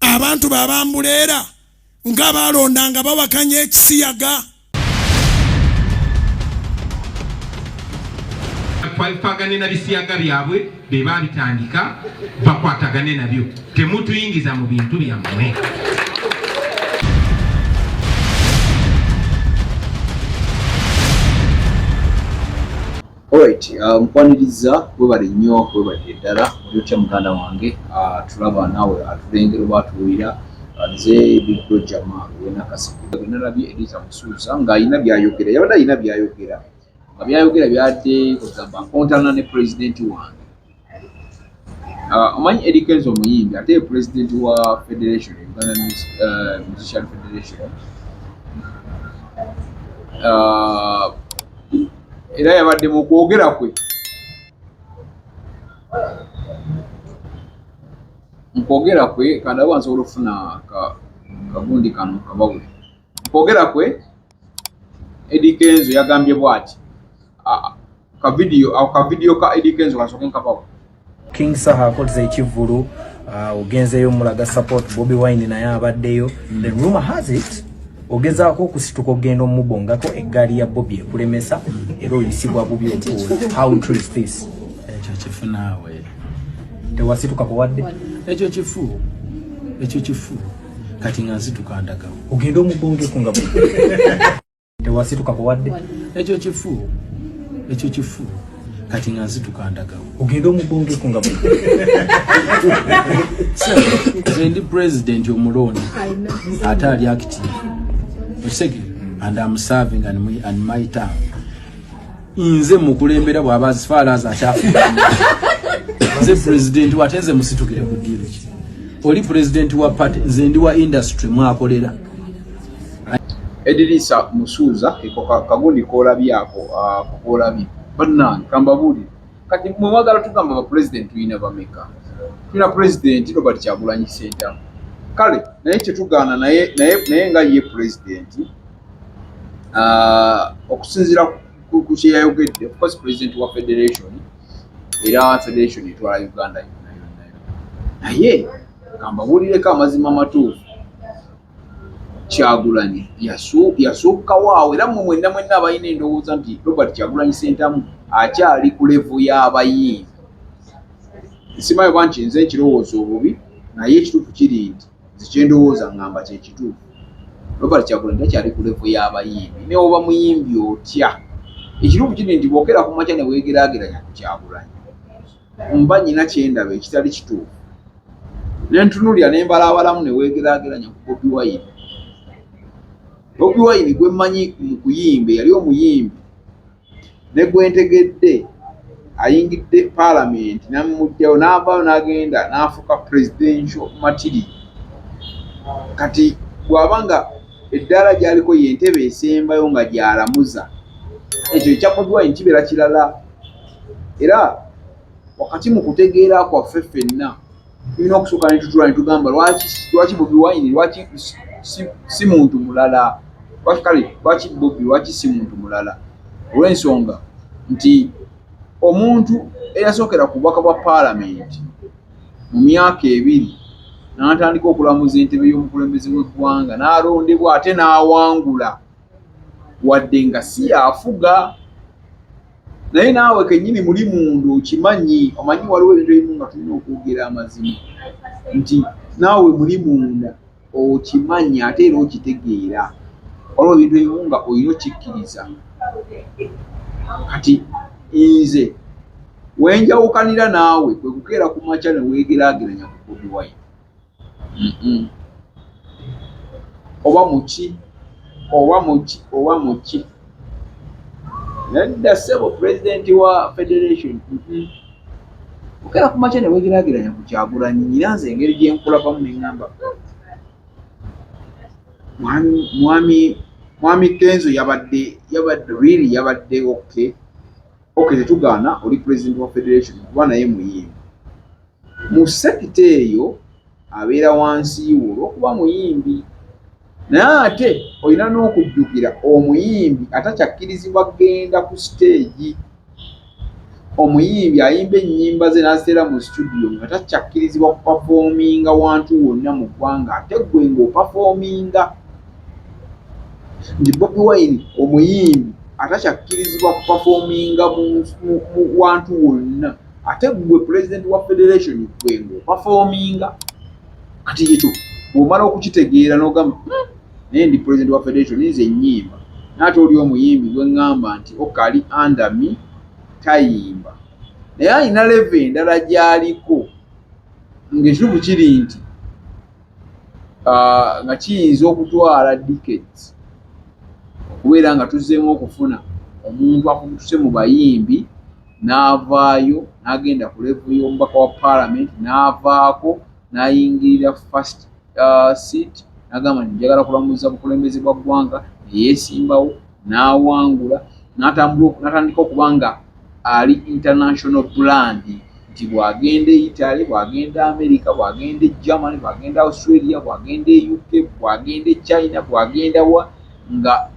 abantu babambuleera nga balonda nga bawakanya ekisiyaga twabipagane na bisiyaga byabwe be babitandika bakwatagane nabyo temutuyingiza mu bintu byammwe Alright, uh, mukwaniriza webale nnyo webale ddala oli otya muganda wange uh, tulaba naawe atulengera oba atuwulira uh, nze bigro jama wenakasigenalabye edita musuuza ng'alina byayogera yabadde alina byayogera nga byayogera byadde ogamba nkontana ne pulezidenti wange Ah, omanyi Eddie Kenzo omuyimbi ate ye president wa federation Uganda eh, Musician Federation ah, era yabadde mu kwogera kwe mu kwogera kwe kandawa nsobola okufuna kagundi kano kabawule mu kwogera kwe Eddy Kenzo yagambye bwati ka video au ka video ka Eddy Kenzo kasoke nkabawo King Saha akoze ekivulu uh, ogenzeyo mulaga support Bobby Wine naye abaddeyo mm. the rumor has it ogezaako okusituka ogenda omubongako eggaali ya Bobby ekulemesa era oyisibwa bubi okuula how true is this ekyo kifu naawe tewasituka kuwadde ekyo kifu ekyo kifu kati nga nsituka ndaga ogenda omubongeko nga tewasituka kuwadde ekyo kifu ekyo kifu kati nga nsituka ndaga ogenda omubongeko nga ndi president omulonda ate ali active osege and am serving and my town nze mukulembera bwaba as far as akyafuuka nze president wate nze musitukire ku deal ki oli president wa party nze ndi wa industry mwakolera edirisa musuuza eko kagundi koolabye ako ah, koolabye bannange kambabuulire kati mwe mwagala tugamba bapulezidenti tulina bameka tulina pulezidenti robert kyagulanyi sentamu kale naye kyetugaana naye naye naye nga ye pulezidenti ah, okusinziira ku kyeyayogedde ofcourse president wa federation era federation etwala uganda yonna yonna naye kambabuulireko amazima amatuufu kyagulanyi yasukkawo awo era mwe mwenna mwenna abalina endowooza nti robert kyagulanyi sentamu akyali ku levu y'abayimbi nsimayo banki nze ekirowoozo obubi naye ekituufu kiri nti nze kyendowooza ngamba kyekituufu Robert Kyagulanyi takyali ku level y'abayimbi newoba muyimbi otya ekituufu kiri nti bwokera ku makya newegeraageranya ku Kyagulanyi mba nyina kyendaba ekitali kituufu nentunulira nembalaabalamu newegeraageranya ku Bobi Wine Bobi Wine gwemmanyi mu kuyimba yali omuyimbi ne gwe ntegedde ayingidde paalamenti namuggyawo n'avaayo n'agenda n'afuuka presidential matiri kati bw'aba nga eddaala gy'aliko ye ntebe esembayo nga gy'alamuza ekyo ekya bodwine kibeera kirala era wakati mu kutegeera kwaffe ffenna tulina okusooka ne tutula ne tugamba lwaki lwaki bobi wine lwaki si muntu mulala lwaki kale lwaki bobi lwaki si muntu mulala olw'ensonga nti omuntu eyasookera ku bubaka bwa paalamenti mu myaka ebiri n'atandika okulamuza entebe y'omukulembeze w'eggwanga n'alondebwa ate n'awangula wadde nga si yaafuga naye naawe kenyini muli mundu okimanyi omanyi waliwo ebintu ebimu nga tulina okwogera amazima nti naawe muli munda okimanyi ate era okitegeera waliwo ebintu ebimu nga olina okikkiriza kati nze wenjawukanira naawe kwekukeera ku makya newegeraageranya kukubiwayo oba muki oba muki oba muki nadda sebo pulezidenti wa federation okera ku makya newegerageranya ku kyagulanyi nyina nze engeri gyenkulabamu neŋamba mwami mwami kenzo yabadde yabadde really yabadde oke ok tetugaana oli president wa federation kuba naye muyimbi mu sekita eyo abeera wansi wo olwokuba muyimbi naye ate olina n'okujjukira omuyimbi atakyakkirizibwa kugenda ku siteegi omuyimbi ayimba ennyimba ze n'aziteera mu situdiyo nga takyakkirizibwa kupafoominga wantu wonna mu ggwanga ate ggwe ng'opafoominga nti Bobi Wine omuyimbi atakyakkirizibwa kupafoominga mu wantu wonna ate ggwe pulezidenti wa federation ggwe ng'opafoominga kati ekyo bw'omala okukitegeera n'ogamba hmm, naye ndi pulezidenti wa federation nze ennyimba naate oli omuyimbi gwe ŋŋamba nti okali andami tayimba naye alina leve endala gy'aliko ng'ekituufu kiri nti ah, nga kiyinza okutwala decades okubeera nga tuzzeemu okufuna omuntu akutuse mu bayimbi n'avaayo n'agenda ku levu y'omubaka wa paalamenti n'avaako n'ayingirira first ah, seat n'agamba nti njagala kulamuza bukulembeze bwa ggwanga neyeesimbawo n'awangula n'atandika okuba nga ali international brand nti bw'agenda e Italy, bw'agenda Amerika, bw'agenda e Germany, bw'agenda Australia, bw'agenda e UK, bw'agenda e China, bw'agenda wa nga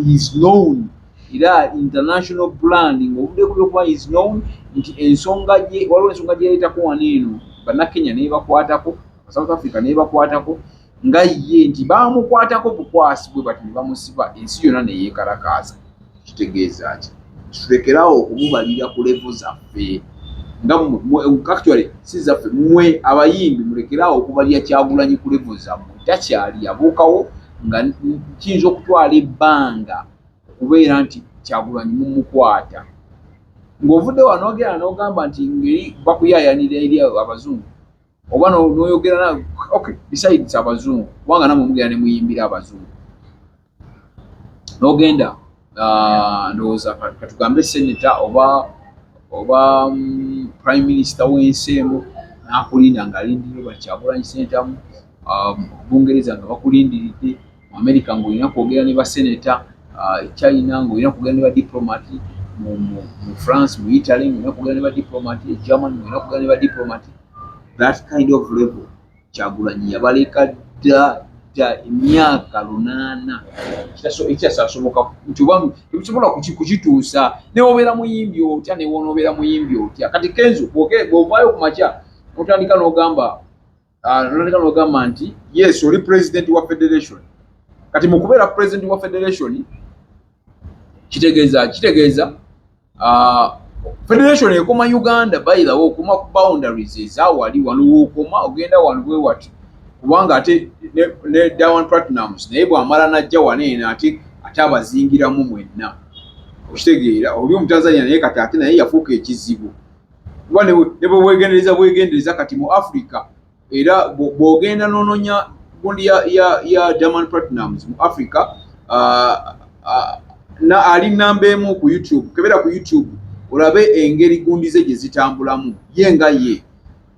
is known era international brand ng'obudde buli okuba is known nti ensonga gye waliwo ensonga gye yaleetako wano eno bannakenya neebakwatako South Africa neebakwatako nga ye nti baamukwatako bukwasi bwe bati ne bamusiba ensi yonna ne yeekalakaaza kitegeeza ki tulekerawo okumubalira ku levu zaffe nga actually si zaffe mmwe abayimbi mulekerawo okubalira kyagulanyi ku levu zammwe takyali yabuukawo nga kiyinza okutwala ebbanga okubeera nti kyagulanyi mumukwata ng'ovudde wanogera n'ogamba nti ngeri bakuyaayanira eri abazungu oba noyogera na okay besides abazungu kubanga namwe mugenda ne muyimbira abazungu nogenda ah, ndowooza katugambe seneta oba oba mm, prime minister w'ensi emu nakulinda ngaalindirira bakyagulanyi sentamu um, bungereza nga bakulindiridde mu America ng'olina kwogera ne baseneta, uh, China ng'olina kwogera ne badiplomat, mu, mu, mu France, mu Italy ng'olina kwogera ne badiplomat, e German ng'olina kwogera ne badiplomat. That kind of level Kyagulanyi yabaleka dda dda emyaka lunaana ekyasasoboka nti oba tebisobola kukituusa newobeera muyimbi otya newonoobeera muyimbi otya kati kenzo bwovaayo ku makya otandika n'ogamba Ah, noleka nogamba nti yes oli president wa federation kati mukubeera president wa federation kitegeeza kitegeeza ah, federation ekoma uganda bayilawo okuma ku boundaries ezawali wano wokoma ogenda wano bwewati kubanga ate ne dawan platinums naye bwamala najja waneena ate ate abazingiramu mwenna okitegeera oli omutanzania naye kati ate naye yafuuka ekizibu kuba ne bwe weegendereza bwegendereza kati mu africa era bw'ogenda n'ononya gundi ya, ya, ya german platinums mu africa uh, uh, na, ali namba emu ku youtube kebera ku youtube olabe engeri gundi ze gye zitambulamu ye nga ye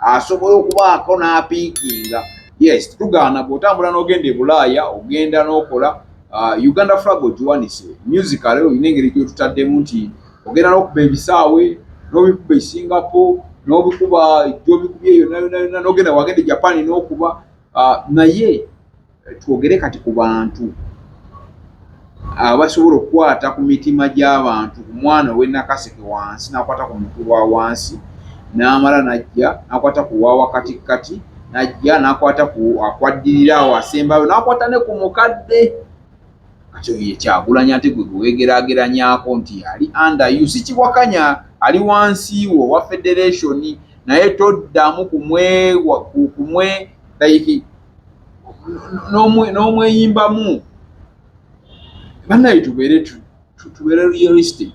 asobola okubaako n'apiikinga yes tugaana bw'otambula n'ogenda e bulaaya ogenda n'okola uh, uganda flag ogiwanise musical olina engeri gyotutaddemu nti ogenda n'okuba ebisaawe n'obikuba e singapore n'obikuba gyobikubye yona yona yona n'ogenda wagenda e japan n'okuba Ah, naye eh, twogere kati ku bantu abasobola ah, okukwata ku mitima gy'abantu ku mwana ow'enakaseke wansi n'akwata ku mutu wa wansi n'amala n'ajja n'akwata ku wa wakatikkati n'ajja n'akwata ku akwaddirira awo asembayo n'akwata ne ku mukadde Kati oyo ye Kyagulanyi ate gwe gwewegerageranyako nti ali under you sikiwakanya ali wansi wo wa federation naye toddamu kumwe kumwe like n'omweyimbamu banaye tubeere tubeere realistic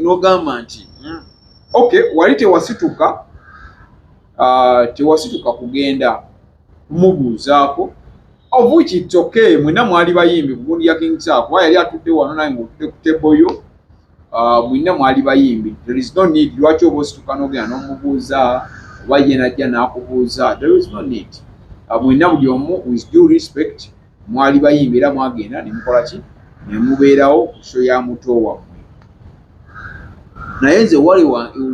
n'ogamba nti hmm, okay wali tewasituka ah, tewasituka kugenda kumubuuzaako of which it's okay mwena mwali bayimbi mugundi ya king saa kuba yali atudde wano naye ngaotudde ku table yo uh, mwena mwali bayimbi there is no need lwaki oba osituka nogenda nomubuuza oba ye najja nakubuuza there is no need uh, mwena buli omu with due respect mwali bayimbi era mwagenda ne mukola ki ne mubeerawo ku sho ya muto wammwe naye nze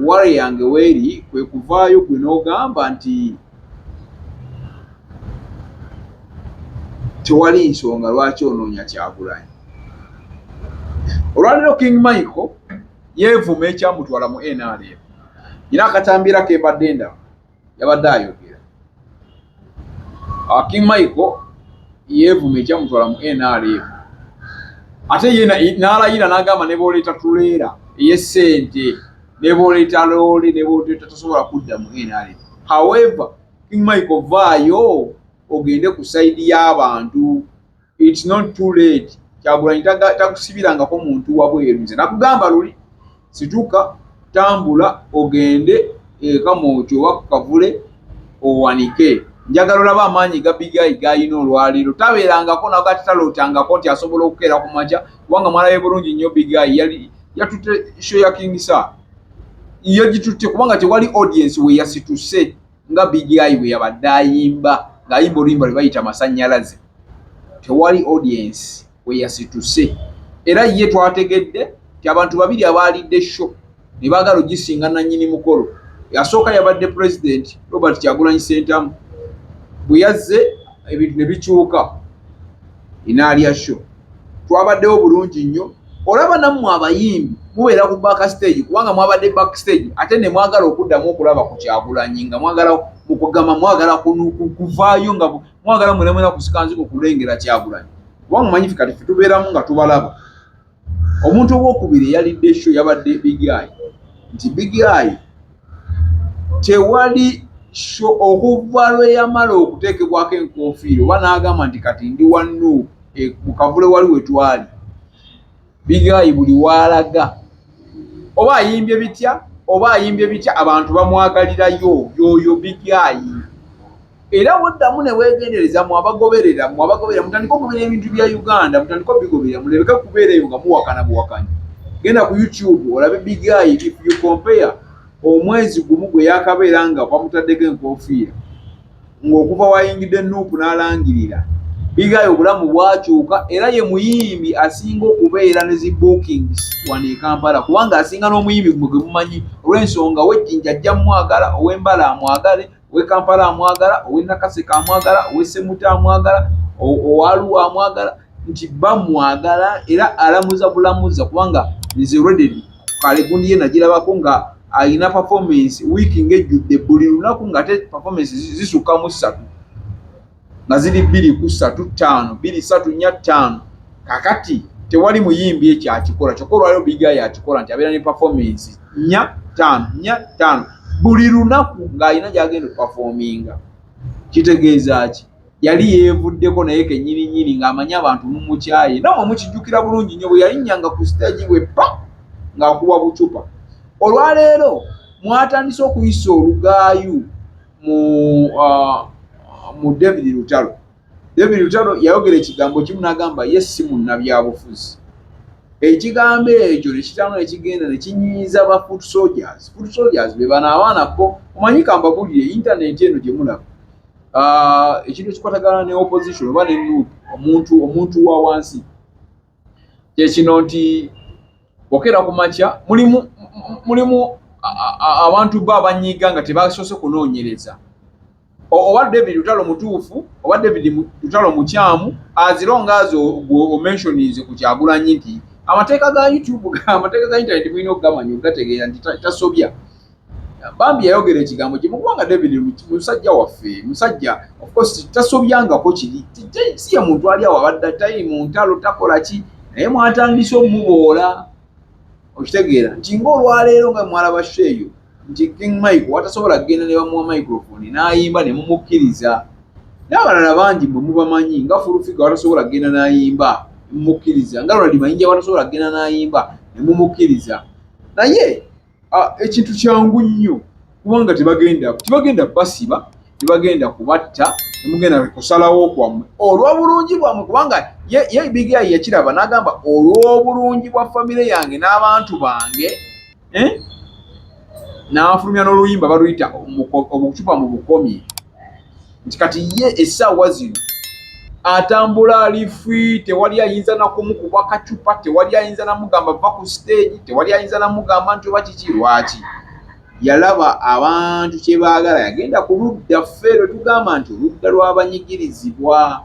wale yange weeri kwe kuvaayo gwe n'ogamba nti tewali nsonga lwaki onoonya kyagulanyi olwaliro king michael yeevuma ekyamutwala mu nrm nyina akatambiira kembadde ndaba yabadde ayogera Akim Michael yeevuma ekyamutwala mu NRM ate ye n'alayira n'agamba ne booleeta tuleera ey'essente ne booleeta loole ne booleeta tasobola kudda mu NRM however King Michael vaayo ogende ku sayidi y'abantu It's not too late. Kyagulanyi takusibirangako muntu wabweru nze nakugamba luli situka tambula ogende eka mwoki oba kukavule owanike njagala olaba amaanyi gabigayi gayina olwaleero tabeerangako nago ati talootangako nti asobola okukeera ku maja kubanga mwala ye bulungi nnyo bigayi yali yatutte sho ya kingisa yagitutte kubanga tewali audiensi weyasituse nga bigi ayi bwe yabadde ayimba ng'ayimba oluyimba lwe bayita masannyalaze tewali audience we yasituse era ye twategedde nti abantu babiri abaalidde sho ne baagala ogisinga nannyini mukolo yasooka yabadde pulezidenti robert kyagulanyi sentamu bwe yazze ebintu ne bikyuka inaalya sho twabaddewo bulungi nnyo olaba nammwe abayimbi mubeera ku back stage kubanga mwabadde back stage ate ne mwagala okuddamu okulaba ku kyagulanyi nga mwagala mukugamba mwagala kuvaayo nga mwagala mwena mwena kusikanziko kulengera kyagulanyi kubanga mumanyifi kati fe tubeeramu nga tubalaba omuntu owokubiri eyalidde sho yabadde bigayi nti bigayi Tewali sho okuva lwe yamala okuteekebwako enkoofiira oba n'agamba nti kati ndi wa Nuupu e, mu kavule wali we twali bigaayi buli waalaga oba ayimbye bitya oba ayimbye bitya abantu bamwagalirayo yooyo bigaayi. era woddamu ne weegendereza mu abagoberera mu abagoberera mutandika okugobera ebintu bya uganda mutandika obigoberera mulebeka kubeera eyo nga muwakana buwakanyi genda ku youtube olabe bigayi if you compare omwezi gumu gwe yakabeera nga bamutaddeko enkofiira ng'okuva wayingidde nuupu n'alangirira bigayi obulamu bwakyuka era ye muyimbi asinga okubeera ne zi bookings wano ekampala kubanga asinga n'omuyimbi gwe gwe mumanyi olw'ensonga wejjinja ajja mumwagala ow'embala amwagale ow'e kampala amwagala ow'e nakaseka amwagala ow'e semuta amwagala owaluwa amwagala nti bamwagala era alamuza bulamuza kubanga nze reded kalegundi ye nagirabako nga alina performance wiiki ng'ejjudde buli lunaku ng'ate performance zisukka mu ssatu nga ziri bbiri ku ssatu ttaano bbiri ssatu nnya ttaano kakati tewali muyimbi ekyo akikola kyokka olwaliro biga yakikola nti abeera ne pafomensi nnya ttaano nnya ttaano buli lunaku ng'alina gy'agenda okupafominga kitegeeza ki yali yeevuddeko naye kenyininyini ng'amanyi abantu mumukyaye namwe mukijjukira bulungi nnyo bwe yalinnyanga ku sitagi bwe pa ng'akuba bucupa olwaleero mwatandise okuyisa olugaayu mu uh, mu david lutalo david lutalo yayogera ekigambo kimu nagamba ye si munnabyabufuzi ekigambo ekyo nekitano nekigenda nekinyiiza ba foot soldiers foot soldiers bebana abaana bo omanyi kambabulire intaneti eno gyemulaba uh, ekintu ekikwatagana ne opposition oba ne nup omuntu omuntu wa wansi kyekino nti okeera ku makya mulimu mulimu abantu bo abanyiiga nga tebasoose kunoonyereza oba david lutalo mutuufu oba david lutalo mukyamu azira ongaazi omensioninze ku kyagulanyi nti amateeka ga youtube amateeka ga internet mulina okugamanya okugategeera nti tasobya bambi yayogera ekigambo kimu kubanga david musajja waffe musajja ofcourse tasobyangako kiri si ye muntu ali awo abadde tayi mu ntalo takola ki naye mwatandise omuboola okitegeera nti ngaolwaleero nga mwalaba sho eyo nti king mike watasobola kugenda ne bamuwa microfoni n'ayimba ne mumukkiriza n'abalala bangi mwe mubamanyi nga fulufiga watasobola kugenda n'ayimba ne mumukkiriza nga ronald mayinja watasobola kugenda n'ayimba ne mumukkiriza naye ekintu kyangu nnyo kubanga tebagenda tebagenda basiba tebagenda kubatta temugenda kusalawo kwammwe olw'obulungi bwammwe kubanga ye ebigiyayi yakiraba n'agamba olw'obulungi bwa famire yange n'abantu bange eh? n'afulumya n'oluyimba baluyita obucupa mu bukomye nti kati ye essaawa zino atambula ali free tewali ayinza nakumukuba kacupa tewali ayinza namugamba va ku stage tewali ayinza namugamba nti oba kiki lwaki yalaba abantu kyebaagala yagenda ku ludda ffe lwe tugamba nti oludda lw'abanyigirizibwa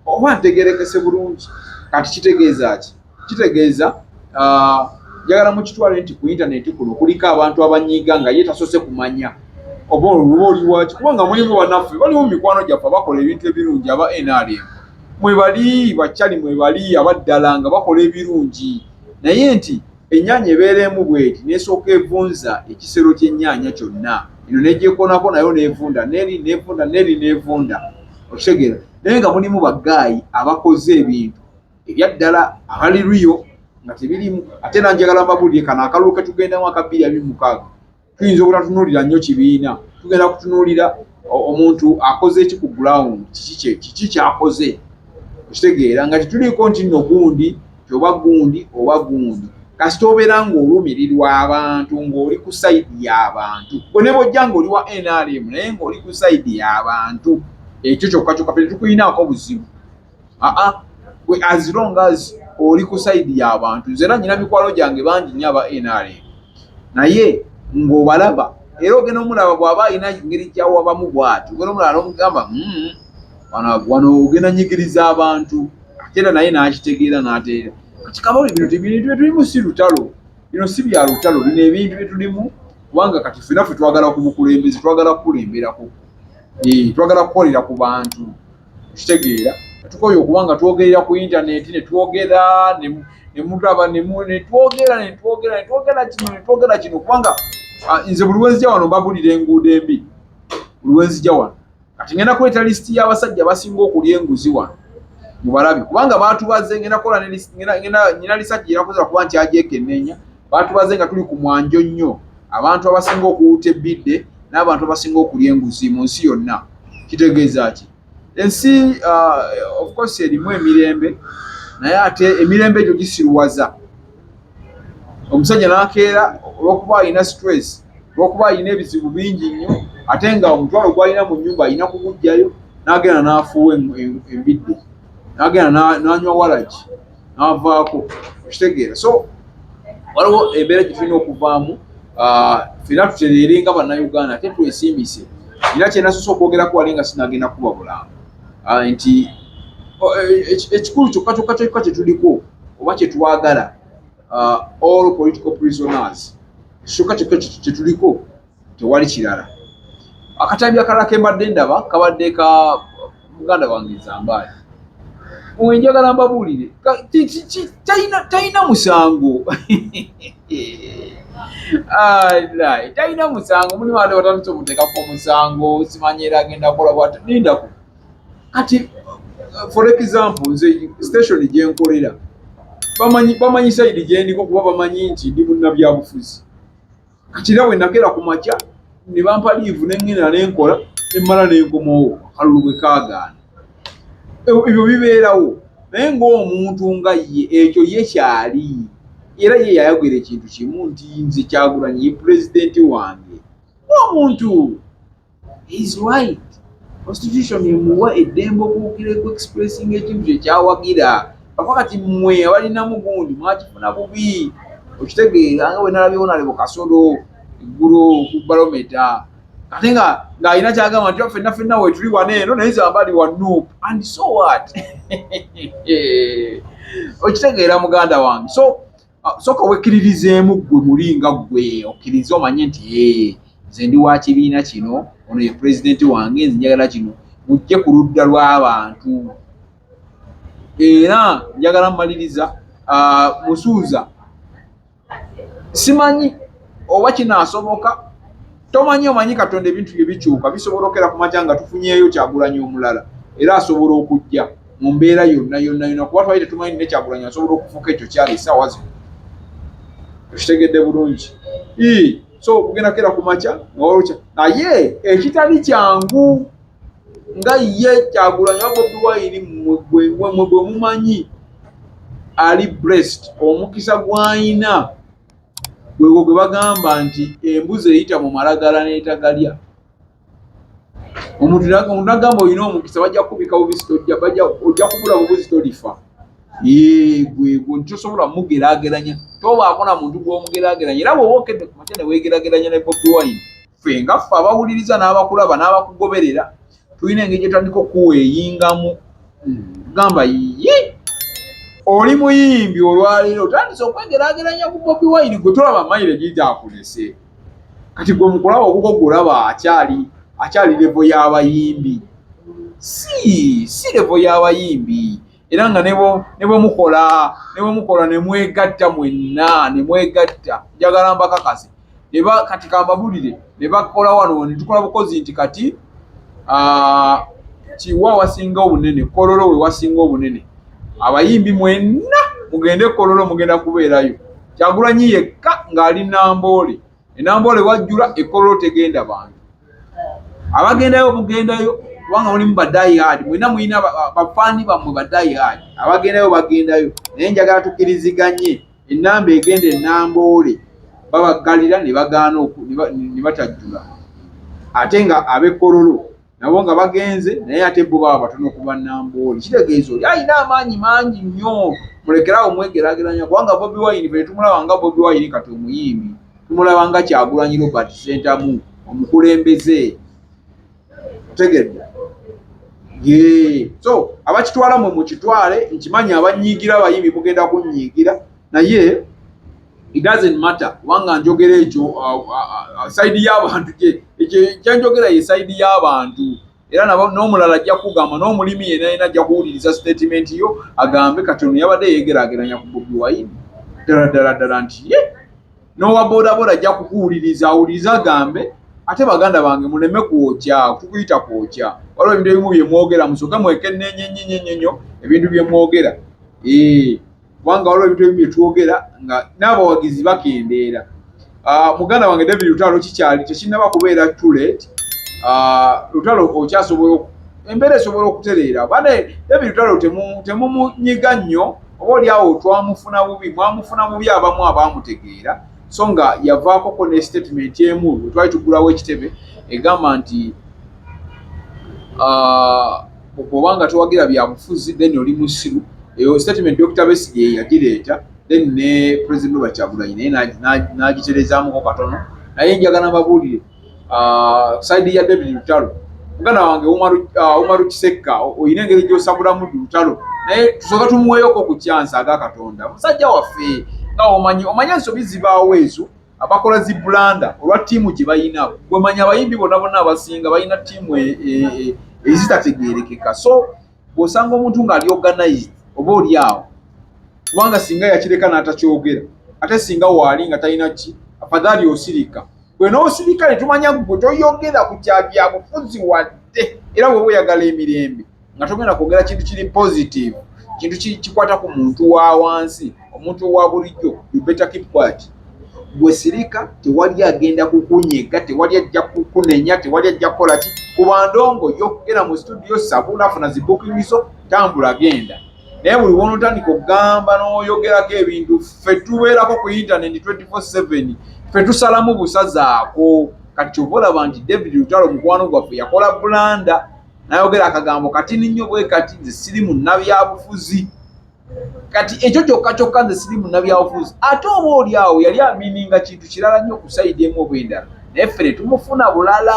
oba ntegerekese bulungi kati kitegeeza ki kitegeeza ah, njagala uh, mukitwale nti ku intaneti kuno kuliko abantu abanyiiga nga ye tasose kumanya oba oluba oliwaki kubanga mulimu banaffe baliwo mumikwano gyaffe bakola ebintu ebirungi aba nrm mwebali bakyali mwebali abaddala nga bakola ebirungi naye nti Ennyaanya ebeera emu bw'eti n'esooka evunza ekisero ky'ennyaanya kyonna, eno n'egyekoonako nayo n'evunda n'eri n'evunda n'eri n'evunda, okitegeera, naye nga mulimu baggaayi abakoze ebintu ebya ddala abali riyo nga tebiriimu. Ate era njagala mbabuulire kano akalulu ke tugendamu aka bbiri abiri mu mukaaga. tuyinza obutatunulira nnyo kibiina tugenda kutunulira omuntu akoze eki ku ground kiki kiki kyakoze okitegeera nga tetuliiko nti nno gundi tioba gundi oba gundi kasita obeera ng'olumirirwa abantu ng'oli ku saidi y'abantu gwe ne bojja ng'oli wa nrm naye ng'oli ku saidi y'abantu ekyo kyokka kyokka fe tetukulinaako buzibu aa gwe as long as oli ku side ya bantu nze era nyina mikwalo gyange bangi nya ba nrm naye ng'obalaba era ogenda omulaba bw'aba alina ngeri gyawabamu bwati ogenda omulaba n'omugamba hmm, wano ogenda nyigiriza abantu ate era naye n'akitegeera n'ateera kati kabali bino tebintu byetulimu si lutalo bino si bya lutalo bino ebintu byetulimu kubanga kati fenaffe twagala ku bukulembezi twagala kukulemberako eh, twagala kukolera ku bantu kitegeera tukoye okuba nga twogerera ku intaneti netwogera nemutaba netwogera netwogera netwogera kino netwogera kino kubanga ah, nze buli wenzija wano mbabulira enguudo embi buli wenzija wano kati ngenda kuleeta lisiti y'abasajja basinga okulya enguzi wano mubalabi kubanga batubaze ngenda kukola nyina lisajja erakoza kuba nti ajekenneenya Baatubaze nga tuli ku mwanjo nnyo, abantu abasinga okuwuuta ebbidde n'abantu abasinga okulya enguzi mu nsi yonna. Kitegeeza ki? Ensi uh, of course erimu emirembe naye ate emirembe egyo gisiruwaza omusajja n'akeera olw'okuba alina stress olw'okuba alina ebizibu bingi nnyo ate nga omutwalo gwalina mu nnyumba alina kugujjayo n'agenda n'afuuwa embidde n'agenda n'anywa walagi n'avaako okitegeera so waliwo embeera gye tulina okuvaamu ah, fena tutereere nga bannayuganda ate twesiimise era kyenasosa okwogerako wali nga sinagenda kuba bulamba ah, nti oh, e, e, ekikulu kyokka kyokka kyokka kyetuliko oba kyetwagala ah, all political prisoners kyokka kyokka kyetuliko tewali kirala. Akatambi akalala ke mbadde ndaba kabadde ka muganda wange Zambaali. Owe njagala mbabuulire talina musango talina musango muli wande batandise omuteekako omusango simanyi era agenda kola bwati lindako kati for example nze station gyenkolera bamanyi sayidi gyendiko kuba bamanyi nti ndi munnabyabufuzi Katira we nakera ku makya ne bampa liivu ne ŋŋenda ne nkola ne mmala ne nkomawo akalulu bwe kaagaana. Ebyo bibeerawo naye ng'omuntu nga ye ekyo ye kyali era ye yayogera ekintu kimu nti nze Kyagulanyi ye pulezidenti wange ng'omuntu He's right. Constitution emuwa eddembe okuwukira ku expressing ekintu kye kyawagira. Ava kati mmwe abalina mugundi mwakifuna bubi. Okitegeera nga bwe nalabyewo nalebo kasolo eggulo ku balometa ate nga ng'alina kyagamba nti fenna fenna wetuli wana eno naye zambali wa nup and so what okitegeera muganda wange so Ah, soka wekiririzeemu gwe muli nga gwe okkirize omanye nti ee nze ndi wa kibiina kino ono ye pulezidenti wange nze njagala kino mujje ku ludda lw'abantu era njagala mumaliriza ah, musuuza simanyi oba kinaasoboka tomanyi omanyi katonda ebintu bye bikyuka bisobola okera ku makya nga tufunyeeyo kyagulanyi omulala era asobola okujja mu mbeera yonna yonna yonna kuba twali tetumanyi ne kyagulanyi asobola okufuuka ekyo kyali esaawa zino okitegedde bulungi so okugenda kera ku makya nga walokya naye ekitali kyangu nga ye kyagulanyi wabobi wayini mwe bwe mumanyi ali brest omukisa gwayina gwegwo gwe bagamba nti embuzi eyita mu malagala n'etagalya omuntu nagamba olina omukisa bajja kubika bubisi tojja bajja ojja kubula bubuzi tolifa yegwegwo nti tosobola mugerageranya tobaako na muntu gwomugerageranya era bwoba okedde ku makya newegerageranya ne bobi wine ffe nga ffe abawuliriza n'abakulaba n'abakugoberera tulina engeri gyetandika okuweeyingamu gamba yiye oli muyimbi olwaleero otandise okwegerageranya ku bobi wine gwe tolaba mayire gigyakulese kati gwe mukulaba okuko gulaba akyali akyali levo y'abayimbi si si levo y'abayimbi era nga ne bwe mukola ne bwe mukola ne mwegatta mwenna ne mwegatta njagala mbakakase kati kambabulire ne bakola wano ne tukola bukozi nti kati ah, kiwa wasinga obunene kololo we wasinga obunene abayimbi mwenna mugende kololo mugenda kubeerayo kyagulanyi yekka ng'ali namboole enamboole wajjula ekololo tegenda bantu abagendayo bugendayo kubanga mulimu badayihadi mwena mulina bafaani bammwe badayihadi abagendayo bagendayo naye njagala tukiriziganye Ennamba egenda e Namboole babaggalira ne bagaana ne batajjula ate nga ab'e Kololo nabo nga bagenze naye ate bo baba batono ku ba Namboole. Kitegeeza oli alina amaanyi mangi nnyo, mulekeraawo mwegeraageranya kubanga Bobi Wine fe tumulaba nga Bobi Wine kati omuyimbi, tumulaba nga Kyagulanyi Robert Ssentamu omukulembeze. tegedde yee so abakitwala mwe mukitwale nkimanyi abanyiigira abayimbi mugenda kunyiigira naye it doesn't matter kubanga njogera ekyo uh, uh, uh, saidi y'abantu kyenjogera ye saidi y'abantu era n'omulala ajja kugamba n'omulimi yena yena ajja kuwuliriza statement yo agambe kati ono yabadde yeegerageranya ku bobi wayini ddala ddala ddala nti ye yeah. n'owa bodaboda ajja kukuwuliriza awuliriza agambe ate baganda bange muleme kwokya kukuyita kwokya waliwo ebintu ebimu bye mwogera musooke mwekenneenye nnyo nnyo nnyo nnyo ebintu bye mwogera kubanga waliwo ebintu ebimu bye twogera nga n'abawagizi bakendeera ah, muganda wange david lutalo kikyali tekinnaba kubeera tulet ah, lutalo okyasobola embeera esobola okutereera bane david lutalo temumunyiga nnyo oba oli awo twamufuna bubi mwamufuna bubi abamu abaamutegeera so nga yavaakoko ne statement emu we twali tugulawo ekitebe egamba nti ah, bwoba nga towagira byabufuzi then oli musiru eyo statement dr besigye yagireeta then ne president oba kyagulanyi naye n'agiterezamuko katono naye njagala mbabuulire uh, side ya David Lutalo muganda wange Umaru uh, Umaru Kisekka oyina engeri gyosabulamu Lutalo naye tusoka tumuweyoko ku kyansa aga Katonda musajja waffe nga omanyi omanyi ensobi zibaawo ezo abakola zi bulanda olwa ttiimu gye balina gwemanya abayimbi bonna bonna abasinga balina ttiimu e, e, e, ezitategeerekeka so bw'osanga omuntu ng'ali organized oba oli awo kubanga singa yakireka n'atakyogera ate singa waali nga talina ki afadhali osirika gwe n'osirika ne tumanya gwe toyogera ku kya byabufuzi wadde era bw'oba oyagala emirembe nga togenda kwogera kintu kiri positive kintu kikwata ku muntu wa wansi omuntu owa bulijjo you better keep quiet gwe sirika tewali agenda kukunyega tewali ajja kukunenya tewali ajja kukola ki kuba ndongo yokugera mu studio sabula funa zibukingizo tambula genda naye buli wonotandika okugamba n'oyogerako ebintu ffe tubeerako ku intaneti 247 ffe tusalamu busazaako kati kyova olaba nti david lutalo mukwano gwaffe yakola bulanda nayogera akagambo katini nnyo bwe kati nze siri mu nabyabufuzi kati ekyo kyokka kyokka nze siri munabyabufuzi ate oba oli awo yali amininga kintu kirala nnyo kusayidi emu oba endala naye ffe ne tumufuna bulala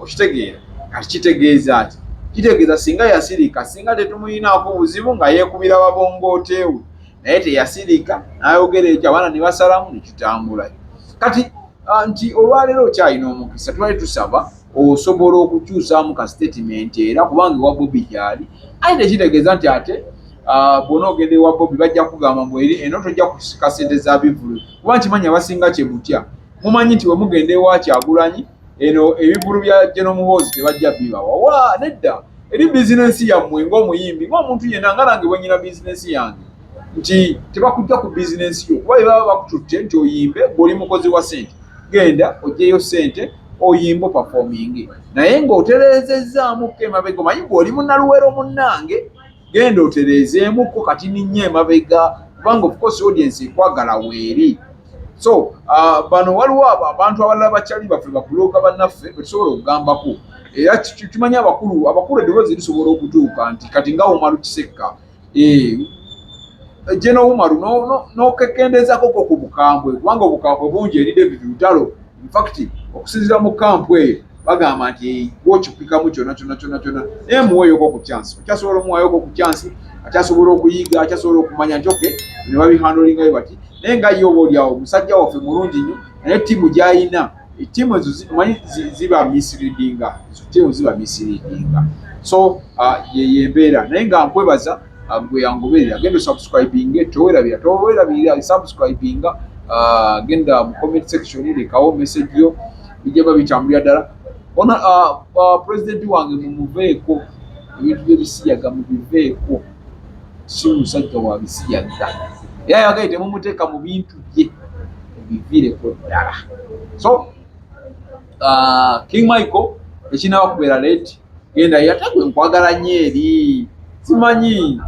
okitegeera kati kitegeeza ki kitegeeza singa yasirika singa tetumuyinaako obuzibu nga yeekubira wabongooteewe naye teyasirika n'ayogera ekyo abaana ne basalamu ne tutambulayo kati ah, nti olwaleero okyalina omukisa twali tusaba osobola okukyusaamu ka sitatimenti era kubanga ewa bobi gyali aye tekitegeeza nti ate ah, bwona ogenda ewa bobi bajja kugamba mbu eri eno tojja kusika sente za bivulu kuba nkimanyi abasinga kye mutya mumanyi nti we mugenda ewa kyagulanyi eno ebivulu bya geno muhoozi tebajja bibawa wa nedda eri bizinensi yammwe ng'omuyimbi ng'omuntu yenna nga nange bwenyina bizinensi yange nti tebakujja ku bizinensi yo kuba bebaba bakututte nti oyimbe gweoli mukozi wa sente genda ojjeyo sente oyimba opafominge naye ng'otereezezzaamuko emabega omanyi gwe oli munaluwero munnange genda otereezeemuko kati ninnyo emabega kubanga ofcourse audience ekwagala weeri so uh, bano waliwo abo abantu abalala bakyali baffe bakuloga bannaffe betusobola okugambako era kimanyi abakulu abakulu eddoboozi lisobola okutuuka nti kati nga womalu kisekka ejje eh, n'owumalu n'okekendeezako ko ku bukambwe kubanga obukambwe bungi eri david lutalo infact okusinzira mu kampu eyo bagamba nti gwokipikamu kyona kyona kyona kyona naye muweeyoko ku kyansi akyasobola omuwayoko ku kyansi akyasobola okuyiga akyasobola okumanya nti oke ne babihandolingayo bati naye nga ye oba olyawo musajja waffe mulungi nnyo naye ttiimu gy'ayina tiimu ezo manyi ziba misleadinga tiimu ziba misleadinga so uh, yeyembeera naye nga nkwebaza uh, gwe yangoberera genda osubscribinge towerabira towerabirira subscribinga uh, genda mu comment section lekawo message yo bijaba bitambulira ddala ona pulezidenti wange mumuveeko ebintu byebisiyaga mubiveeko si musajja wa bisiya dda era yagaye temumuteeka mu bintu bye biviireko ddala so uh, king michael ekinaba kubeera leti genda yatagwe nkwagala nyo eri simanyi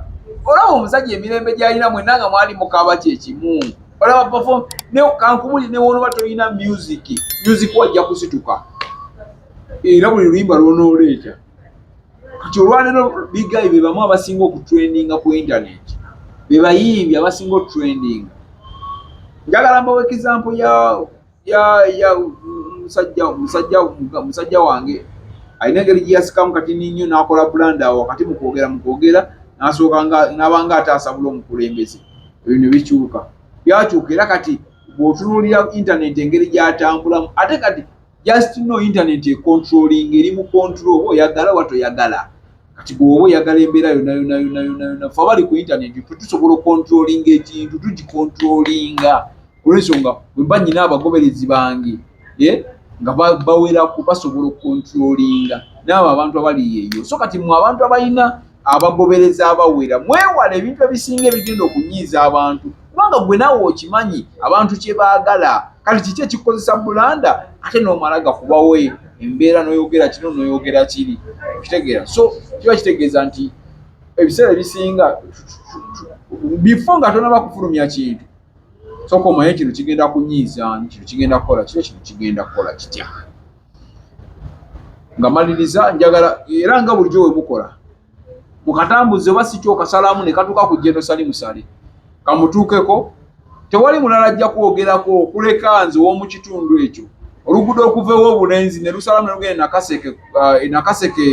olaba omusajja emirembe gyalina mwena nga mwali mukaba kyekimu olaba pefom kankubuli newonoba tolina music music wajja kusituka era buli luyimba lwonooleeta nti olwaleero bigayi be bamu abasinga okutrendinga ku internet be bayimbi abasinga otrending njagala mbawa ekizampo musajja wange alina engeri gyeyasikamu kati ninyo nakola bulanda awo wakati mukwogera mukwogera nasooka nabanga ataasabula omukulembeze ebyo ne bikyuka byakyuka era kati bwotunuulira internet engeri gyatambulamu ate kati just no internet e controlling eri mu control oba oyagala oba toyagala kati bwoba oyagala embeera yona yona yona yona yona fe abali ku internet fe tusobola ocontrolling ekintu tugicontrollinga olwensonga wemba nyina abagoberezi bange eh, nga bawerako basobola ocontrollinga naabo abantu abali yeyo so kati mwe abantu abalina abagoberezi abawera mwewala ebintu ebisinga ebigenda okunyiiza abantu kubanga gwe naawe okimanyi abantu kye baagala kati kiki ekikozesa bulanda ate n'omala gakubawo embeera n'oyogera kino n'oyogera kiri okitegeera so kiba kitegeeza nti ebiseera ebisinga bifo nga tonaba kufulumya kintu soka omanye kino kigenda kunyiiza kino kigenda kukola kiro kino kigenda kukola kitya nga maliriza njagala era nga bulijjo we mukola mukatambuze oba si kyokasalamu ne katuuka ku jenosali musale kamutuukeko tewali mulala ajja kwogerako okuleka nze ow'omu kitundu ekyo oluguudo okuvaewo obulenzi ne lusalamu ne lugenda nakaseke uh, nakaseke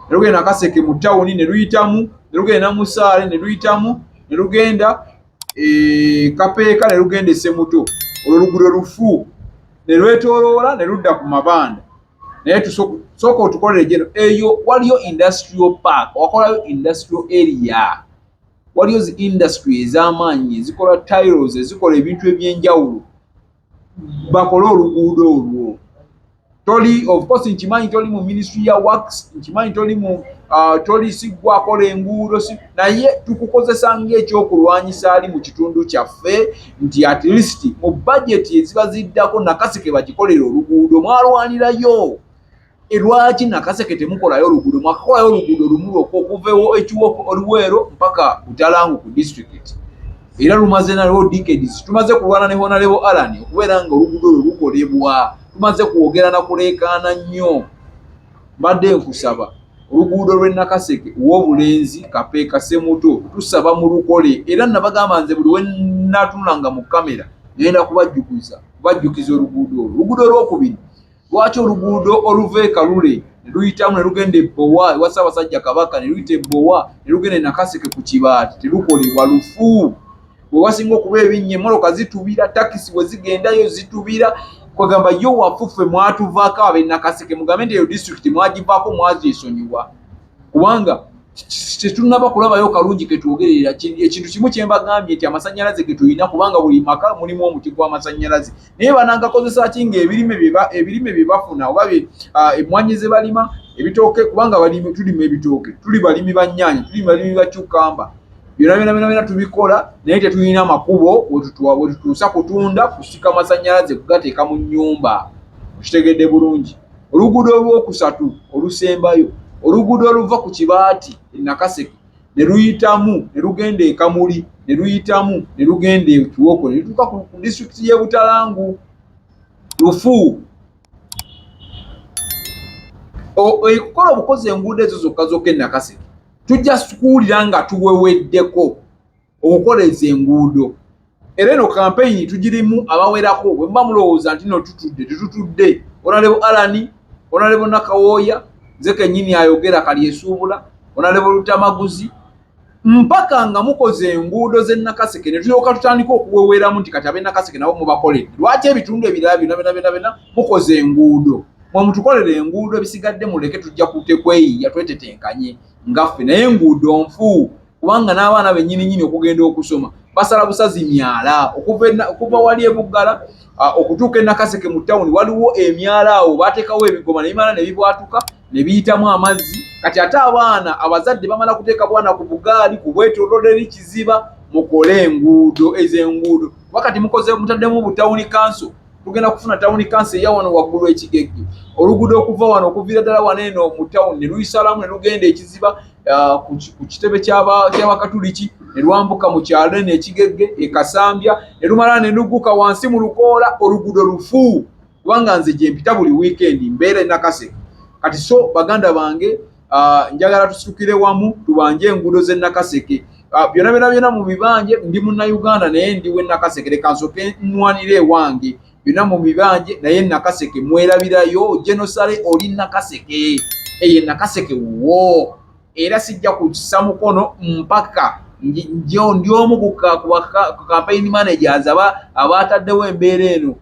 ne lugenda nakaseke mu tawuni ne luyitamu ne lugenda namusaale ne luyitamu ne lugenda e, kapeeka ne lugenda esemuto olwo lugudo lufu ne lwetoloola ne ludda ku mabanda naye tusooka otukolere gyeno eyo waliyo industrial park wakolayo industrial area waliyo zi industry ez'amaanyi ezikola tiles ezikola ebintu eby'enjawulo bakole oluguudo olwo toli of course nkimanyi toli mu ministry ya works nkimanyi toli mu uh, toli sigwakola enguudo si naye tukukozesa ngaekyokulwanyisa ali mu kitundu kyaffe nti at least mu bajeti eziba ziddako nakasike bagikolera oluguudo mwalwanirayo E, lwaki nakaseke temukolayo oluguudo mwakakolayo oluguudo lumu lwokka okuva ekiwoko oluweero mpaka butalangu ku disitulikiti era lumaze nalwo decades tumaze kulwana ne honalebo alan okubeera nga oluguudo lwe lukolebwa tumaze kwogera na kuleekaana nnyo mbadde nkusaba oluguudo lw'e nakaseke w'obulenzi kapeeka semuto tusaba mu lukole era nabagamba nze buli wenatunulanga mu kamera ngenda kubajjukiza kubajjukiza oluguudo olwo oluguudo olwokubiri Lwaki oluguudo oluva e Kalule ne luyitamu ne lugenda e Bbowa ewa Ssaabasajja Kabaka ne luyita e Bbowa ne lugenda e Nakaseke ku Kibaati terukolebwa lufu? We wasinga okuba ebinnya emmoloka zitubira, takisi we zigendayo zitubira kwegamba yo wafuffe mwatuvaako ab'e Nakaseke mugambe nti eyo disitulikiti mwagivaako mwagyesonyiwa. kubanga tetunaba kulabayo kalungi ketwogerera ekintu kimu kyembagambye nti amasanyalaze getulina kubanga buli maka mulimu omuti gw'amasanyalaze naye banangakozesa ki nga ebirime ebirime bye bafuna oba ah, emmwanyi ze balima ebitooke kubanga balimi tulima ebitooke tuli balimi ba nyaanya tuli balimi ba cukamba byona byona byona byona tubikola naye tetulina makubo wetutuusa kutunda kusika masanyalaze kugateeka mu nyumba okitegedde bulungi Oluguudo olwokusatu olusembayo oluguudo oluva ku kibaati e Nakaseke ne luyitamu ne lugenda e Kamuli ne luyitamu ne lugenda e Kiwoko ne lutuuka ku disitulikiti y'e Butalangu lufu. Okukola obukozi enguudo ezo zokka zokka e Nakaseke tujja kuwulira nga tuweweddeko. okukola ezo enguudo era eno kampeyini tugirimu abawerako bwe muba mulowooza nti no tutudde tetutudde onalebo alani onalebo nakawooya nze kenyini ayogera kalyesuubula onalebo lutamaguzi mpaka nga mukoze enguudo zenakaseke netulyoka tutandika okuweweramu nti kati abenakaseke nabo mubakoledde lwaki ebitundu ebirala byona byonabyonabena mukoze enguudo mwe mutukolera enguudo ebisigadde muleke tujja kutekweyiya twetetenkanye ngaffe naye enguudo nfuu kubanga n'abaana bennyini nyini okugenda okusoma basala busazi myala okuva wali ebuggala okutuuka enakaseke mu tawuni waliwo emyala awo bateekawo ebigoba nebimala ne bibwatuka ne biyitamu amazzi kati ate abaana abazadde bamala kuteeka bwana ku bugaali ku bwetololeli kiziba mukole enguudo ez'enguudo wakati mukoze mutaddemu butawuni kanso tugenda kufuna tawuni kansi eya wano waggulu ekigegge oluguudo okuva wano okuviira ddala wano eno mu tawuni ne luyisalamu ne lugenda ekiziba uh, ku kitebe ky'abakatuliki ne lwambuka mu kyalo eno ekigegge e kasambya ne lumala ne lugguka wansi mu lukoola oluguudo lufu kubanga nze gye mpita buli wiikendi mbeera enakase kati so baganda bange ah, njagala tusitukire wamu tubanje enguudo z'e Nakaseke ah, byona byona byona mu bibanje ndi munnayuganda naye ndi w'e Nakaseke leka nsoke nnwanire ewange byona mu bibanje naye e Nakaseke mwerabirayo genosale oli Nakaseke eye Nakaseke wuwo era sijja kukisa mukono mpaka ndi omu ku campaign managers aba abaataddewo embeera eno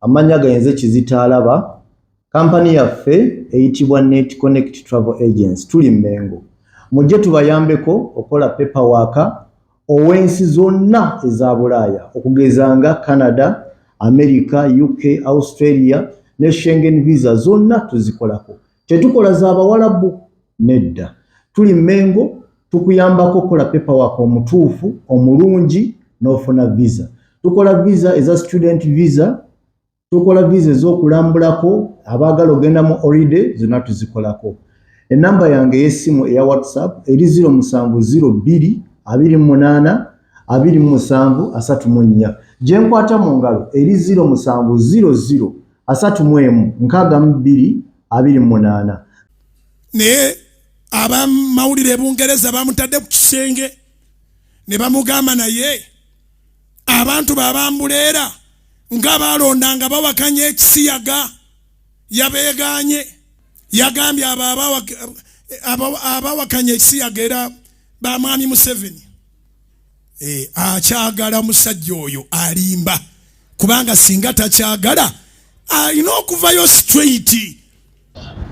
Amannya gainze kizito alaba. Kampani yaffe eyitibwa Net Connect Travel Agency tuli Mmengo. Mujje tubayambeko okola paper waaka ow'ensi zonna eza Bulaaya okugeza nga Canada, America, UK, Australia ne Schengen visa zonna tuzikolako. Tetukola za bawalabu nedda. Tuli Mengo tukuyambako kola paper work omutuufu omulungi n'ofuna visa. Tukola visa eza student visa, tukola visa ez'okulambulako abaagala ogenda mu holiday zonna tuzikolako. Enamba yange ey'essimu eya WhatsApp eri 0702 28 27 34. Gye nkwata mu ngalo eri 0700 asatu mu emu nkaaga mu bbiri abiri mu munaana naye abamawulire ebungereza bamutadde ku kisenge ne bamugamba naye abantu babambuleera nga balonda nga bawakanya ekisiyaga yabeeganye yagambye abo abawakanya ekisiyaga era bamwami museveni eh, akyagala musajja oyo alimba kubanga singa takyagala alina okuvayo straight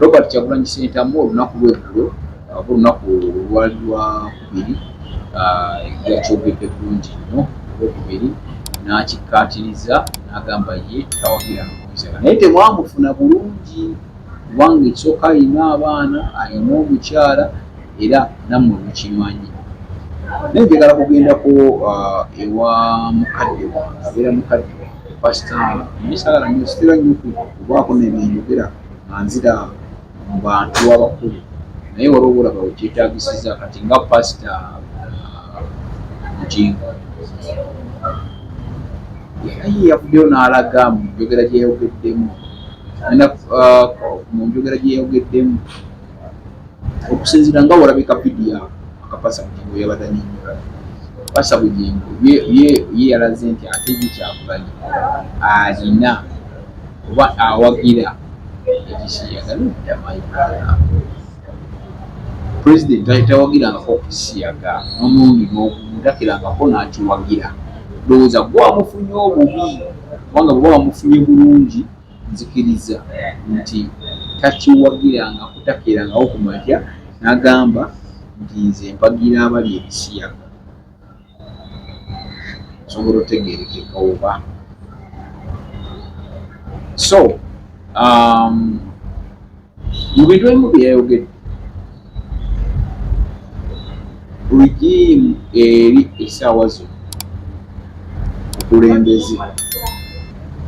robert kyagulanyi sentamu olunaku lweggulo aba olunaku olwali lwakubiri ah, yakyogedde bulungi nnyo olwokubiri n'akikkaatiriza n'agamba ye tawagira nokumusaka naye temwamufuna bulungi kubanga ekisooka alina abaana alina omukyala era nammwe mukimanyi naye njagala kugendako uh, ewa mukadde wange abeera mukadde wange pasita misagala nyositera nyo kubaako nebyeyogera nga nzira mu bantu abakulu naye waliwo olaba wekyetagisiza kati nga pasita uh, mukingo naye yavuddeyo n'alaga mu njogera gyeyayogeddemu uh, mu njogera gyeyayogeddemu okusinzira nga walabika vidiyo akapasa bugingo yabadde anyonyola pasa bugingo ye yalaze nti ate ye kyakubanyi alina oba awagira ekisiyaga nodda maikala president tawagirangako okukisiyaga nomundi nogumu takirangako nakiwagira ndowooza gwamufunye obubi kubanga bwoba wamufunye bulungi Nzikiriza nti takiwagira nga kutakeerangawo ku makya n'agamba nti nze mpagira abalya ebisiyaga nsobola otegerekeka oba so um, mu bintu ebimu bye yayogedde rigimu eri esaawa zo okulembeze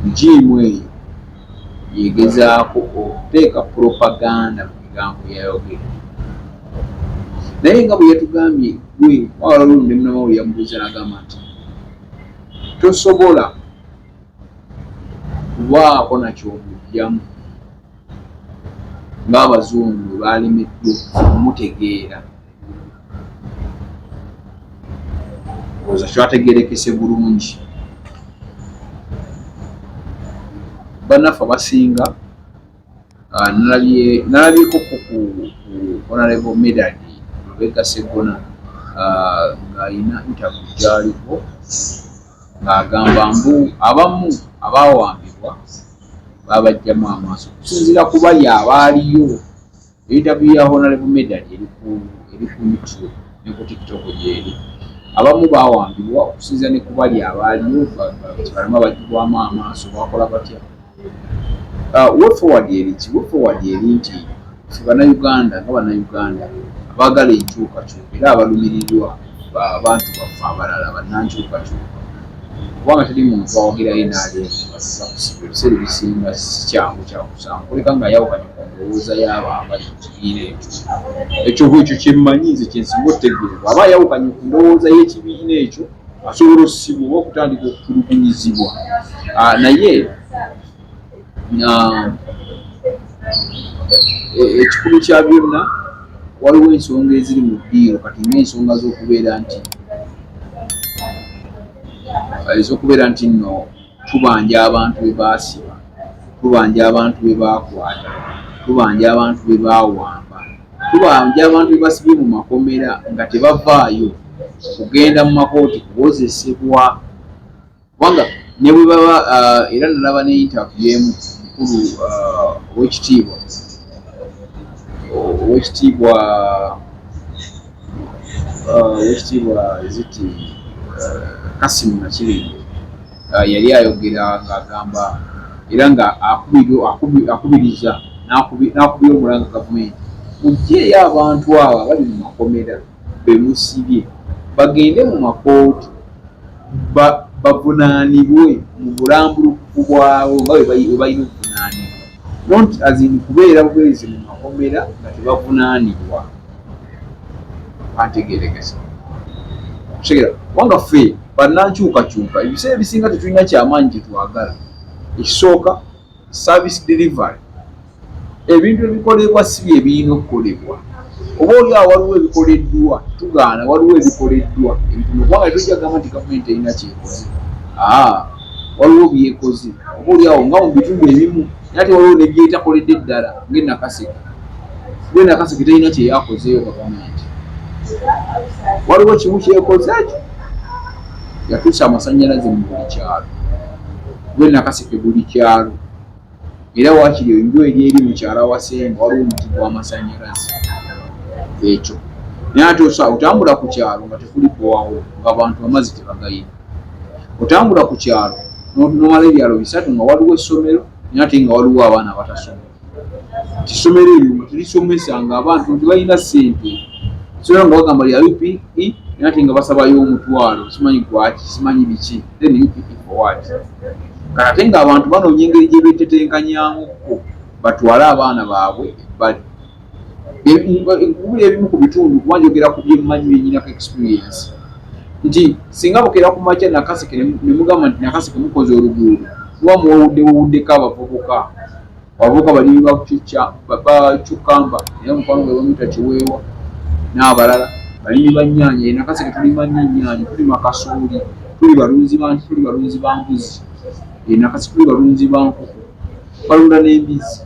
rigimu eyo yegezaako okuteeka propaganda mu bigambo yayogera naye nga bwe yatugambye gwe wawala olunde munamawuli yamubuuza nagamba nti tosobola kubaako nakyomujjamu ng'abazungu bwe baalemeddwa okumutegeera oza kyategerekese bulungi banaffe abasinga ah, nalabyeko ku honorable medad lubega segona ah, ng'alina ntabu gyaliko ng'agamba mbu abamu abaawambibwa babajjamu amaaso okusinziira kuba yaaba aliyo ebitabu ya honalebo medal eri ku youtube ne ku tiktok gyeri abamu bawambibwa okusinziira ne kuba lyaaba aliyo balama bagibwamu amaaso bakola batya uh, wefoward eriki wefoward eri nti fe banauganda nga banauganda abaagala enkyukakyuka era abalumirirwa abantu baffe abalala bannankyukakyuka kubanga teri muntu awagirayo naleebiseera ebisinga sikyangu kyakusanga kuleka nga yawukanye ku ndowooza yaabo abali mu kibiina ekyo ekyoba ekyo kyemmanyi nze kyensinga otegeera bwaba ayawukanye ku ndowooza y'ekibiina ekyo asobola osibwa oba okutandika okutulugunyizibwa ah, naye e, ekikulu kya byonna waliwo ensonga eziri mu ddiiro kati ngaensonga z'okubeera nti ez'okubeera nti nno tubanja abantu be baasiba tubanja abantu be baakwata tubanja abantu be baawamba tubanja abantu be basibye mu makomera nga tebavaayo kugenda mu makooti kuwozesebwa kubanga ne bwe baba uh, era nalaba ne interview emu mukulu uh, owekitiibwa owekitiibwa uh, owekitiibwa ziti kasimu nakibinge yali ayogera ng'agamba era nga akubiriza n'akubira omulanga gavumenti mugyeyo abantu abo abali mu makomera bemusibye bagende mu makooti bavunanibwe mu bulambulukufu bwabwe nga bwebalina okuvunanibwa not as in kubeera bwezi mu makomera nga tebavunanibwa antegerekesa kutegera kubanga ffe banankyukakyuka ebiseera ebisinga tetulina kyamaanyi kyetwagala ekisooka service delivery ebintu ebikolebwa si bye birina okukolebwa oba oli awo waliwo ebikoleddwa tugaana waliwo ebikoleddwa ebituma kubanga tojja gamba nti gavumenti erina kyekoze aa waliwo byekoze oba oli awo nga mu bitundu ebimu nate waliwo nebyetakoledde eddala ngenakaseke gwe nakaseke terina kyeyakozeeyo gavumenti waliwo kimu kyekoze ekyo yatuusa amasanyalaze mu buli kyalo gwe nakaseke buli kyalo era wakiri enju eri eri mukyala wasenga waliwo omuti gwamasanyalaze ekyo naye ate osa otambula ku kyalo nga tekuli kuwawo ngaabantu amazzi tebagayina otambula ku kyalo nomala ebyalo bisatu nga waliwo essomero naye ate nga waliwo abaana abatasoma kisomero ebyo nga tulisomesa nga abantu tebalina sente sera nga bagamba lya upe naye ate nga basabayo omutwalo simanyi gwaki simanyi biki then upe for what kati ate nga abantu banoonya engeri gyebetetenkanyamuko batwale abaana baabwe ebbali Buli ebimu ku bitundu kuba njogera ku bye mmanyi bye nnyinako experience nti singa bukeera ku makya Nakaseke ne mugamba nti Nakaseke mukoze oluguudo kuba muwewudde wewuddeko abavubuka abavubuka balimi bakucucca bacukamba era mukwano gwe bamuyita kiweewa n'abalala balimi ba nnyaanya ye Nakaseke tulima nnyo ennyaanya tulima kasooli tuli balunzi bantu tuli balunzi ba mbuzi ye Nakaseke tuli balunzi ba nkoko balunda n'embizzi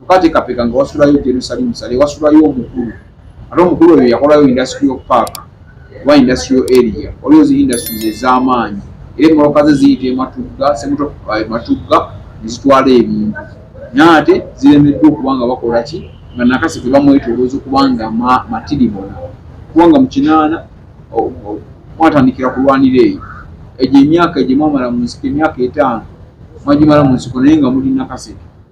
Tukateekateeka nga wasulayo Jerusalem Sale, wasulayo omukulu. Ate omukulu oyo yakolayo industrial park oba industrial area. Waliwo zi industries ez'amaanyi. Era emmoloka ze ziyita e Matugga, Semuto e Matugga ne zitwala ebintu. Naye ate ziremeddwa okuba nga bakola ki? Nga Nakasi gwe bamwetoolooza okuba nga matiribona. Okuba nga mu kinaana mwatandikira kulwanira eyo. Egyo emyaka gye mwamala mu nsiko, emyaka etaano mwagimala mu nsiko naye nga muli Nakaseke.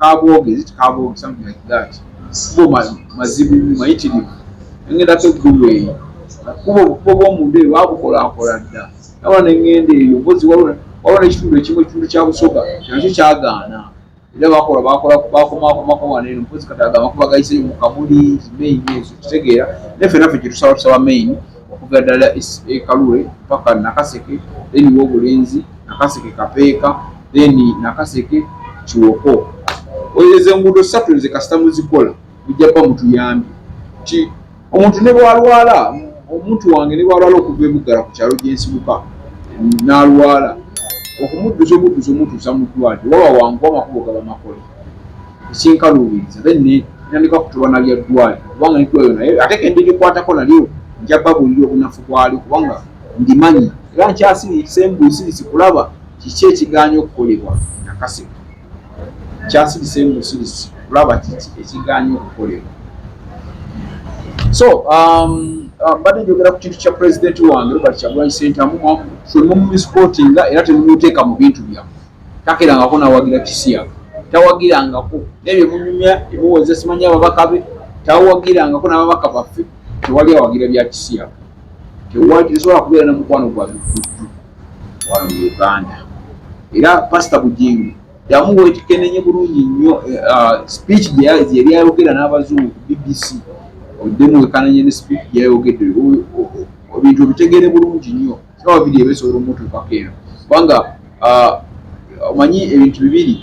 Kabooge, is it Kabooge, something like that. Kubo mazibu mayitirivu nengendako eggulu eyo kubo obukubo bwomunda eyo babukolaakola dda nawa nengenda eyo mpozi waliwo nekitundu ekimu ekitundu kya busoga nakyo kyagaana era bakola bakola bakomakomako wano eno mpozi kati agamba kuba gayiseyo mu kamuli main ezo kitegeera naye ffe naffe kyetusaba tusaba main okuva ddala e, e Kalule mpaka Nakaseke then Wobulenzi Nakaseke Kapeeka then Nakaseke Kiwoko ezo enguudo ssatu nze kasita muzikola mujja kuba mutuyambye nti omuntu ne bwalwala omuntu wange ne bwalwala okuva ebuggala ku kyalo gyensibuka n'alwala okumudduza omudduza omutuusa mu ddwaliro waba wangu amakubo gaba makola sinkaluubiriza be ne ntandika kutuba na bya ddwaaliro kubanga ne ddwaaliro naye ate ke ndirikwatako nalyo nja babuulira obunafu bwalyo kubanga ndimanyi era nkyasiriise mbuusirise kulaba kiki ekigaanya okukolebwa nakaseka nkyasirisa embusirise kulaba kiki ekigaanya okukolebwa so um, uh, mbadde njogera ku kintu kya pulezidenti wange robert kyagulanyi sentamu fwe mumumisipootinga era temumuteeka mu bintu byammwe takerangako nawagira kisiyaga tawagirangako nebyo munyumya emuwoza simanyi ababaka be tawagirangako nababaka baffe tewali awagira bya kisiyaga tesobola kubeera na mukwano gwa bifuddu wano mu uganda era pasita bujingi yamuwetekenenye bulungi nnyo eh, ah, speech gyeyayogera n'abazungu ku bbc oddemu wekananye ne speech gyeyayogedde ebintu obitegere bulungi nnyo siraba biri ebesobola omutuukako eno kubanga ah, omanyi ebintu bibiri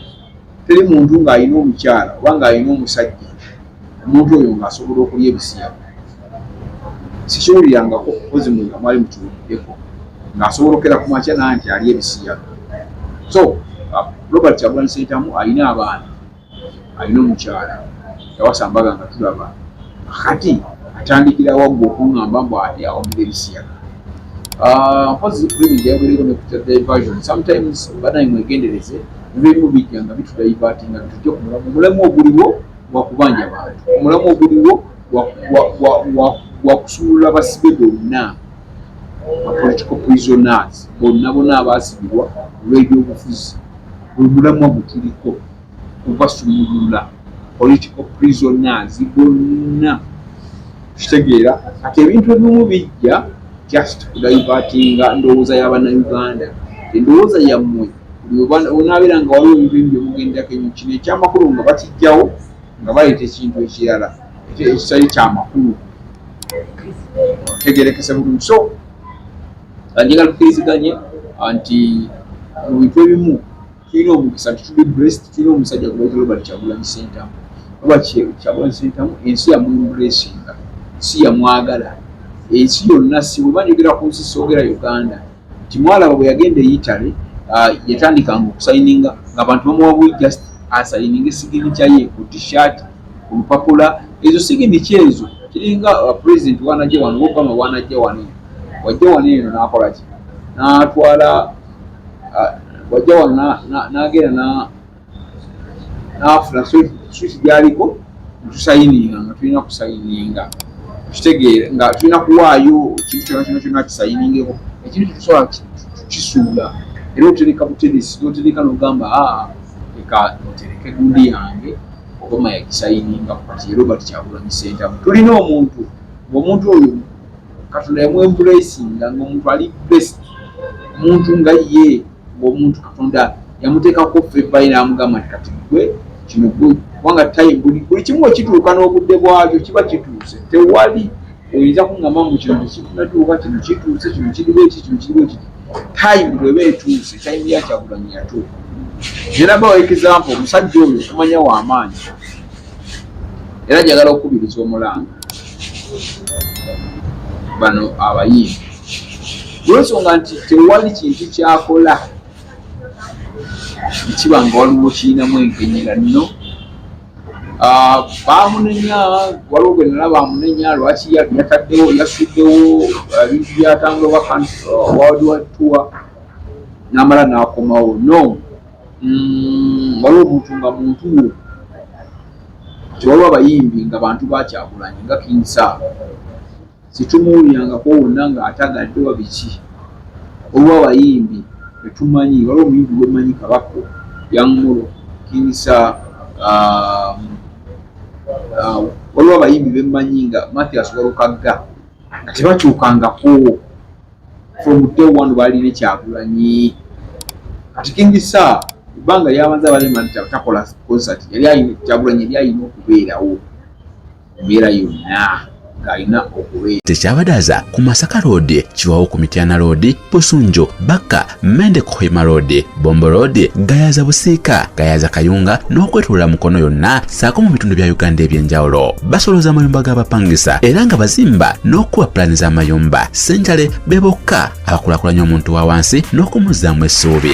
teri muntu ng'alina omukyala oba ng'alina omusajja omuntu oyo ng'asobola okulya ebisiya sikiwulirangako ozi mu amwali mukiwuliddeko ng'asobola okera ku makya naa nti alya ebisiya so ah, robert kyagulanyi sentamu alina abaana alina omukyala yawasa mbaga nga tulaba akati atandikira wagga okungamba mbu awamira ebisiyaga ah, mpozi primi jayagereko nekuta diversion sometimes banaye mwegendereze ebimu bijja nga bitudaivatinga bitujja ku mulamu omulamu oguliwo wakubanja bantu omulamu oguliwo wakusumulula basibe bonna apolitical prisoners bonna bona abaasibirwa olw'ebyobufuzi buli mulamwa gutuliko kubasumulula political prisoners bonna kitegeera kati ebintu ebimu bijja just kudayivatinga ndowooza yabanauganda endowooza yammwe onaabeera nga waliwo ebintu ebi byemugendako enyo kino ekyamakulu nga bakijjawo nga baleeta ekintu ekirala ekitali kyamakulu tegerekese bulungi so njagala tukiriziganye nti mu bintu ebimu tulina omukisa nti tuli blessed tulina omusajja gwebayita robert kyagulanyi sentamu oba kyagulanyi sentamu ensi yamuimpressinga si yamwagala ensi yonna si bweba njogera ku nsi soogera uganda nti mwalaba bwe yagenda e italy uh, yatandikanga okusayininga ngaabantu bamuwabuyi just asayininga esigini kyaye ku tishat ku lupapula ezo sigini kyezo kiringa uh, president wanajja wano obama wanajja wano wajja wano eno nakolaki natwala wajja wano nagenda nafuna switi gyaliko tusayininga nga tulina kusayininga kitegeera nga tulina kuwaayo ekintu kyona kyona kyona kisayiningeko ekintu kitusobola kisuula era otereka buteresi notereka nogamba aa leka ntereke gundi yange obama yakisayininga kati era obati kyakulamisentamu tulina omuntu ngaomuntu oyo katonda yamu embracinga nga omuntu ali best muntu nga ye ngaomuntu katonda yamuteekako febayi namugamba nti kati gwe kino gwe kubanga time buli buli kimu ekituuka n'obudde bwakyo kiba kituuse tewali oyinza kungamba mu kino tekikunatuuka kino kituuse kino kiriwo eki kino kiriwo eki time bweba etuuse time yakyagulanyi yatuuka era bawa example omusajja oyo okumanya wamaanyi era njagala okukubiriza omulanga bano abayimbi olwensonga nti tewali kintu kyakola ekiba nga waliwo kirinamu enkenyera nno ah, bamunenya waliwo gwe nala bamunenya lwaki yataddewo yasuddewo ah, ebintu byatambula wawadiwatuwa namala nakomawo no Mm, waliwo omuntu nga muntu wo tewaliwo abayimbi nga bantu bakyakulanye nga kinsa situmuwulirangako wonna ngaatagadde wa biki waliwo abayimbi etumanyi waliwo omuyimbi gwemanyi kabako yangolo kinsa um, uh, waliwo abayimbi bemanyi nga mathias walukagga nga tebakyukangako from day one baali ne kyagulanyi kati king sa ebbanga lyabanza balimanti takola concert yali ayina kyagulanyi yali ayina okubeerawo embeera yonna ng'alina okubeera tekyabadaza ku masaka loodi kiwawo ku mityana loodi busunjo bakka mende kuhima road bombo road gayaza busiika gayaza kayunga n'okwetulula mukono yonna saako mu bitundu bya uganda eby'enjawulo basoloza amayumba g'abapangisa era nga bazimba n'okukuba pulaani z'amayumba senjale be bokka abakulakulanya omuntu wa wansi n'okumuzzaamu essuubi